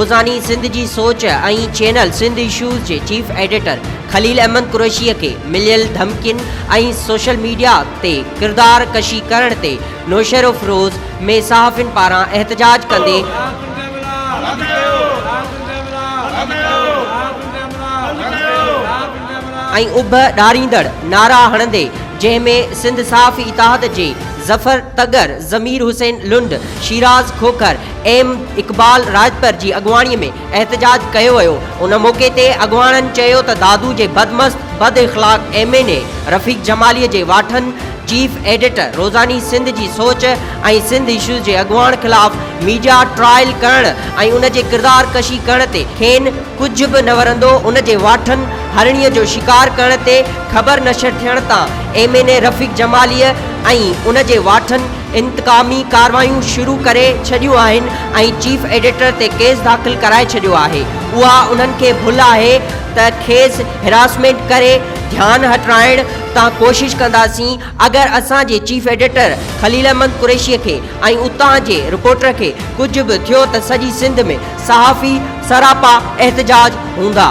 روزاني سنڌ جي سوچ ۽ چينل سنڌ اشوز جي چيف ايڊيٽر خليل احمد قريشيء کي مليل ڌمڪين ۽ سوشل ميڊيا تي ڪردار ڪشي ڪرڻ تي نوشهروفيروز ۾ صحافين پاران احتجاج ڪندي ۽ اڀ ڏاريندڙ نعرا هڻندي جنهن ۾ سنڌ صحافي اتحاد جي ظفر تڳر، ضمير حسين لنڊ، شيراز کوکر، ايم اقبال راڄپر جي اڳواڻي ۾ احتجاج ڪيو ويو ان موقعي تي اڳواڻن چيو ته دادو جي بدمست بد اخلاق M N A Rafiq Jamali جي واٺن چيف ايڊيٽر روزاني سنڌ جي سوچ ۽ سنڌ اشوز جي اڳواڻ خلاف ميڊيا ٽرائل ڪرڻ ۽ ان جي ڪردار ڪشي ڪرڻ تي کين ڪجهه به نه ورندو ان جي واٺن هرڻي جو شڪار ڪرڻ تي خبر نشر ٿيڻ تان M N A Rafiq Jamali ۽ ان جي واٺن انتقامي ڪاروايون شروع ڪري ڇڏيون آهن ۽ چيف ايڊيٽر تي ڪيس داخل ڪرائي ڇڏيو آهي اها انهن کي ڀل آهي ته کيس هراسمينٽ ڪري ڌيان هٽرائڻ تان ڪوشش ڪنداسين اگر اسان جي چيف ايڊيٽر خليل احمد قريشي کي ۽ اتان جي رپورٽر کي ڪجهه به ٿيو ته سڄي سنڌ ۾ صحافي سراپا احتجاج هوندا.